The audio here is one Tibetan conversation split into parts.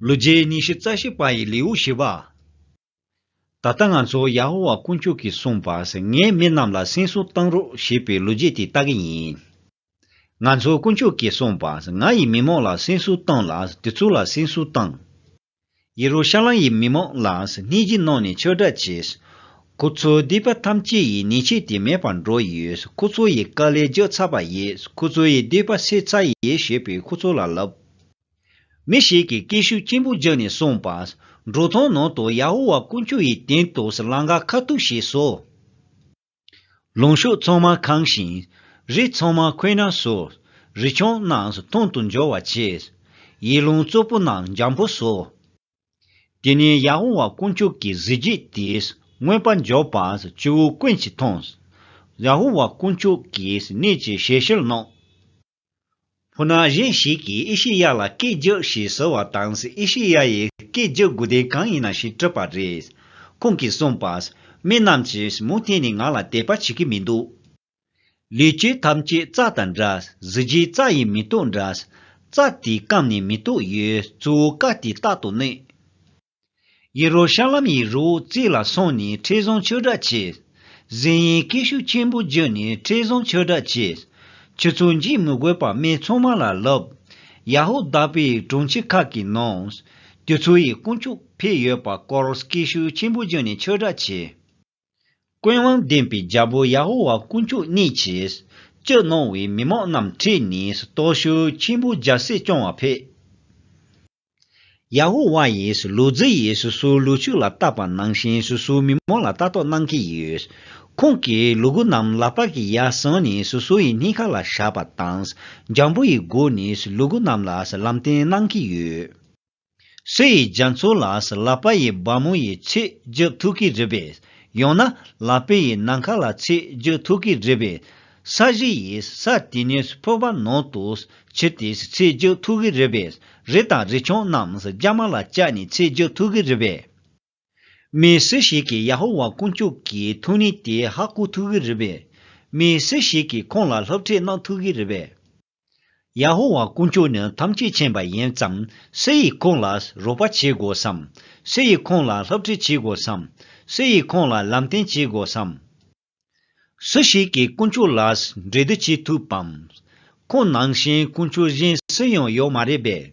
ལོ་རྗེས་ཉི་ཤུ་རྩ་བཞི་པ་ཡི་ལེའུ་བཞི་པ། ད་ལྟ་ང་ཚོ་ཡ་ཧོ་ཝཱ་དཀོན་མཆོག་གིས་གསུངས་པ་ངས་མི་རྣམས་ལ་སེམས་གསོ་གཏང་རོགས་ཞེས་པའི་ལོ་རྗེས་དེ་ལྟ་གི་ཡིན། ང་ཚོ་དཀོན་མཆོག་གིས་གསུངས་པ་ང་ཡི་མི་མང་ལ་སེམས་གསོ་གཏང་ལ་དེ་ཚོ་ལ་སེམས་གསོ་གཏང། ཡེ་རུ་ཤ་ལམ་ཡི་མི་མང་ལ་སྣེ་གཅིག་གནང་ནས་ཆོས་སྒྲ་བྱས། ཁོ་ཚོའི་སྡིག་པ་ཐམས་ཅད་ཡི་ནད་ཆད་དེ་མེད་པར་འགྲོ་ཡོད་ཁོ་ཚོ་ཡི་དཀའ་ལས་རྒྱག་ཚར་བ་ཡིས་ཁོ་ཚོ་ཡི་སྡིག་པ་སེལ་ཚར་ཡེ་ཞེས་པས་ཁོ་ཚོ་ལ་ལབ། མི་ཞིག་གིས་སྐད་ཤུགས་ཆེན་པོ་རྒྱག་ནས་གསུངས་པ། འབྲུག་ཐང་ནང་དུ་ཡ་ཧོ་ཝཱ་དཀོན་མཆོག་ཡི་དེང་དུས་སྲི་ལང་ཀ་ཁ་གཏུགས་བྱས་སོ། ལུང་ཤུགས་ཚང་མ་ཁང་ཞིང། རི་ཚང་མ་ཁོད་ན་ཟོ། རི་ཆུང་རྣམས་ཐུང་དུ་འབྱོར་བར་བྱས། ཡི་ལུང་གཙོ་པོ་རྣམས་འཇམ་པོ་བཟོ། དེ་ནས་ཡ་ཧོ་ཝཱ་དཀོན་མཆོག་གི་གཟི་བརྗིད་དེས་མངོན་པར་འབྱོར་པ་སྤྱི་བོའི་ཀུན་གྱིས་མཐོང། ཡ་ཧོ་ཝཱ་དཀོན་མཆོག་གིས་གནས་ཀྱི་ཞལ་ཕྱིར་གནང། ཕུ་ནག་གཞན་ཞིག་གིས་ཨེ་ཤེ་ཡ་ལ་སྐད་རྒྱག་ཞེས་ཟེར་བ་དང་ཨེ་ཤེ་ཡ་ཡིས་སྐད་རྒྱག་དགོས་དོན་གང་ཡིན་ན་ཞེས་དྲིས་པར་རེས་ཁོང་གིས་གསུངས་པ། མི་རྣམས་ཀྱིས་མུ་མཐུད་ནས་ང་ལ་དད་པ་བྱེད་ཀྱི་མི་འདུག། ལུས་ཀྱི་ཐམས་ཅད་རྩ་དང་འདྲ། གཟི་བརྗིད་རྩ་ཡི་མེ་ཏོག་འདྲ། རྩ་དེའི་སྐམ་ནས་མེ་ཏོག་ཡོད། གཙོ་བོ་བཀའ་དེ་རྟག་ཏུ་གནས། ཡེ་རོ་ཤ་ལམ་ཡི་རོའི་རྩེ་ལ་སོང་ནས་ཁྲི་བཟང་ཆོས་སྒྲ་བྱས། གཟན་ཡས་སྐད་ཤུགས་ཆེན་པོ་བརྒྱུད་ནས་ཁྲི་བཟང་ཆོས་སྒྲ་བྱས། ཁྱོད་ཚོ་འཇིགས་མི་དགོས་པར་སྨད་འཚོང་མ་ལ་ལོབས། ཡ་ཧོ་དཱ་པའི་གྲོང་ཁྱེར་ཁག་གི་ནང། ཁྱོད་ཚོ་ཡི་དཀོན་མཆོག་ཕེབས་ཡོད་པ་སྐོར་སྐད་ཤུགས་ཆེན་པོ་བརྒྱུད་ནས་ཆོས་སྒྲ་བྱས། ཀུན་དབང་ལྡན་པའི་རྒྱལ་པོ་ཡ་ཧོ་ཝཱ་དཀོན་མཆོག་གནས་ཀྱིས་སྤྱི་གནང་བའི་མི་མང་རྣམས་ཁྲིད་ནས་སྟོབས་ཤུགས་ཆེན་པོས་རྒྱལ་སྲིད་སྐྱོང་བར་ཕེབས། ཡ་ཧུ་བྷ་ཡིས་སུ་ལུ་ཛི་ཡིས་སུ་སུ་ལུ་ཕྱུགས་ལ་བཏགས་པ་ནང་བཞིན་སུ་སུའི་མི་མང་ལ་ལྟ་རྟོག་གནང་གི་ཡོད། ཁོང་གིས་ལུ་གུ་རྣམས་ལག་པ་གིས་ཡར་བཟུང་ནས་སུ་སུ་ཡི་སྙིང་ཁ་ལ་བཞག་པ་དང། འཇམ་པོ་ཡི་སྒོ་ནས་སུ་ལུ་གུ་རྣམས་ལ་སུ་ལམ་སྟོན་གནང་གི་ཡོད། སུ་ཡི་རྒྱ་མཚོ་ལ་སུ་ལག་པ་ཡི་སྦར་མོ་ཡི་ཚིག་རྒྱུགས་ཐུག་གི་རེད་པས། ཡང་ན་ལག་པས་ཡི་ནང་ཁ་ལ་ཚིག་རྒྱུགས་ཐུག་གི་རེད་པས། ས་གཞི་ཡིས་ས་དེ་ཉིད་ཕུར་པ་ནོར་དུ་བྱེད་དེ་ཚེ་རྒྱུད་ཐུགས་ཀྱི་རི་བས་རི་དང་རི་ཆུང་རྣམས་རྒྱ་མ་ལ་བཅག་ནས་ཚེ་རྒྱུད་ཐུགས་ཀྱི་རི་བས། མི་སུ་ཞིག་གིས་ཡ་ཧོ་ཝཱ་དཀོན་མཆོག་གི་ཐུགས་ནི་དེ་ཧ་སྐུ་ཐུགས་ཀྱི་རི་བས། མི་སུ་ཞིག་གིས་ཁོང་ལ་ལྷབ་ཁྲིད་གནང་ཐུགས་ཀྱི་རི་བས། ཡ་ཧོ་ཝཱ་དཀོན་མཆོག་ནི་ཐམས་ཅད་མཁྱེན་པ་ཡིན་བསམ། སུ་ཡིས་ཁོང་ལ་རོགས་པ་བྱེད་དགོས་སམ། སུ་ཡིས་ཁོང་ལ་ལྷབ་ཁྲིད་བྱེད་དགོས་སམ། སུ་ཡིས་ཁོང་ལ་ལམ་སྟོན་བྱེད་དགོས་སམ། སུ་ཞིག་གིས་དཀོན་མཆོག་ལ་འབྲེལ་བསྡུར་བྱེད་ཐུབ་བམ། ཁོང་ནང་བཞིན་དཀོན་མཆོག་གཞན་སུ་ཡང་ཡོད་མ་རེད་པས།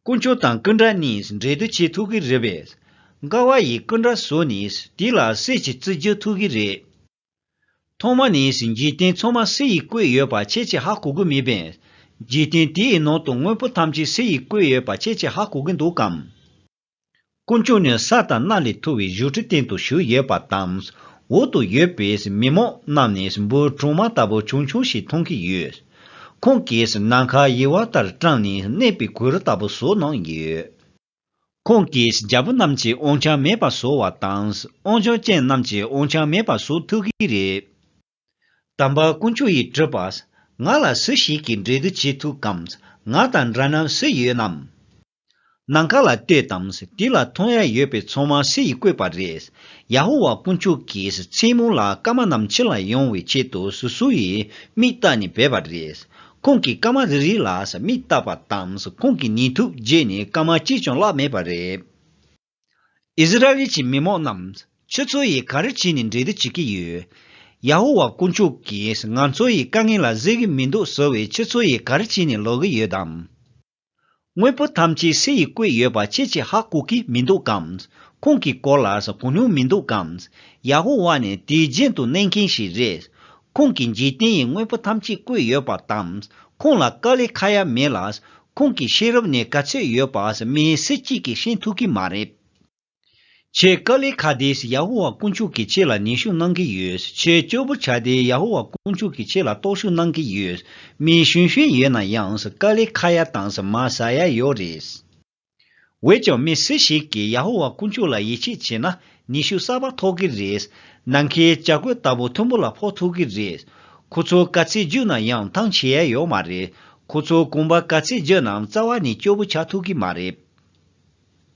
དཀོན་མཆོག་དང་སྐུ་འདྲ་གཉིས་འབྲེལ་བསྡུར་བྱེད་ཐུབ་ཀྱི་རེད་པས། དགའ་བ་ཡིས་སྐུ་འདྲ་བཟོས་ནས་དེ་ལ་སྲས་ཀྱི་རྩིས་བསྒྱུར་ཐུབ་ཀྱི་རེད། ཐོག་མ་ནས་འཇིག་རྟེན་ཚང་མ་སྲས་ཡིས་བཀོད་ཡོད་པ་ཁྱེད་ཀྱིས་ཧ་གོ་གི་མེད་པས། འཇིག་རྟེན་དེའི་ནང་དུ་དངོས་པོ་ཐམས་ཅད་སྲས་ཡིས་བཀོད་ཡོད་པ་ཁྱེད་ཀྱིས་ཧ་གོ་གི་འདུག་གམ། སྐུ་མཆོག་ནི་ས་དང་གནའ་ལས་ཐུ་བའི་བཞུགས་ཁྲི་སྟེང་དུ་བཞུགས་ཡོད་པ་དང། འོག་ཏུ་ཡོད་པའི་མི་མོ་རྣམས་ནི་འབུར་གྲོང་མ་ལྟ་བུ་ཆུང་ཆུང་ཞིག་མཐོང་གི་ཡོད། ཁོང་གིས་ནམ་མཁའ་དབྱེ་བ་ལྟར་དྲངས་ནས་གནས་པའི་གུ་རུ་ལྟ་བུ་བཟོ་གནང་ཡོད། ཁོང་གིས་རྒྱལ་པོ་རྣམས་ཀྱི་དབང་ཆ་མེད་པ་བཟོ་བ་དང་དབང་ཆོག་ཅན་རྣམས་ཀྱི་དབང་ཆ་མེད་པ་བཟོ་ཐུབ་གི་རེད། དམ་པ་དཀོན་མཆོག་ཡིས་དྲིས་པ། ང་ལ་སུ་ཞིག་གིས་འབྲེལ་བསྡུར་བྱེད་ཐུབ་གམ། ང་དང་འདྲ་རྣམས་སུ་ཡོད་ནམ། ནམ་མཁའ་ལ་ལྟོས་དང། དེ་ལ་མཐོང་ཡ་ཡོད་པའི་ཚོགས་མང་སུ་ཡིས་བསྐོས་པ་རེད། ཡ་ཧོ་ཝཱ་དཀོན་མཆོག་གིས་མཚན་མོ་ལ་སྐར་མ་རྣམས་ཕྱི་ལ་ཡོང་བའི་ཆེད་དུ་སུ་སུ་ཡིས་མིག་བཏགས་ནས་བས་པ་རེད། ཁོང་གིས་སྐར་མ་རེ་རེ་ལ་མིག་བཏགས་པ་དང་ཁོང་གིས་ཉིན་ཐུབ་རྗེས་ནས་སྐར་མ་གཅིག་ཀྱང་བརླགས་མེད་པ་རེད། ཨིསི་རཱཨེལ་གྱི་མི་མང་རྣམས་ཁྱོད་ཚོ་ཡིས་ག་རེ་བྱས་ནས་འབྲེལ་བསྡུར་བྱེད་ཀྱི་ཡོད། ཡ་ཧོ་ཝཱ་དཀོན་མཆོག་གིས་ང་ཚོ་ཡི་དཀའ་ངལ་ལ་གཟིགས་ཀྱི་མི་འདུག་ཟེར་བས་ཁྱོད་ཚོ་ཡིས་ག་རེ་བྱས་ནས་ལོག་གི་ཡོད་དམ། དངོས་པོ་ཐམས་ཅད་སེ་ཡིས་བརྐོས་ཡོད་པ་ཁྱེད་ཀྱིས་ཧ་གོ་གི་མི་འདུག་གམ། ཁོང་གི་སྐོར་ལ་གོ་མྱོང་མི་འདུག་གམ། ཡ་ཧོ་ཝཱ་ནི་དུས་རྒྱུན་དུ་གནས་མཁན་ཞིག་རེད། ཁོང་གིས་འཇིག་རྟེན་ཡི་དངོས་པོ་ཐམས་ཅད་བརྐོས་ཡོད་པ་དང། ཁོང་ལ་དཀའ་ལས་ཁ་ཡ་མེད་ལ། ཁོང་གི་ཤེས་རབ་ནི་ག་ཚོད་ཡོད་པ་མི་སེར་གཅིག་གིས་ཤེས་ཐུབ་ཀྱི་མ་རེད། ཁྱེད་དཀའ་ལས་ཁ་དེས་ཡ་ཧོ་ཝཱ་དཀོན་མཆོག་གིས་ཁྱེད་ལ་ནུས་ཤུགས་གནང་གི་ཡོད། ཁྱེད་སྐྱོ་པོ་བྱ་དེས་ཡ་ཧོ་ཝཱ་དཀོན་མཆོག་གིས་ཁྱེད་ལ་རྟོག་ཞུགས་གནང་གི་ཡོད། མི་གཞོན་གཞོན་ཡོད་ན་ཡང་དཀའ་ལས་ཁ་ཡ་དང་མ་ཟ་ཡ་ཡོད་རེད། འོད་ཀྱང་མི་སུ་ཞིག་གིས་ཡ་ཧོ་ཝཱ་དཀོན་མཆོག་ལ་ཡིད་ཆེས་བྱས་ན་ནུས་ཤུགས་གསར་པ་ཐོགས་ཀྱི་རེད། ནམ་མཁའི་བྱ་རྒོད་ལྟ་བུ་མཐོན་པོ་ལ་ཕོག་ཐུག་གི་རེད། ཁོ་ཚོ་དཀའ་ཚེགས་བརྒྱུད་ན་ཡང་ཐང་ཆད་ཡ་ཡོད་མ་རེད། ཁོ་ཚོ་གོམ་པ་དཀའ་ཚེགས་བརྒྱུད་ནའང་རྩ་བ་ནས་སྐྱོ་པོ་ཆགས་ཐུག་གི་མ་རེད།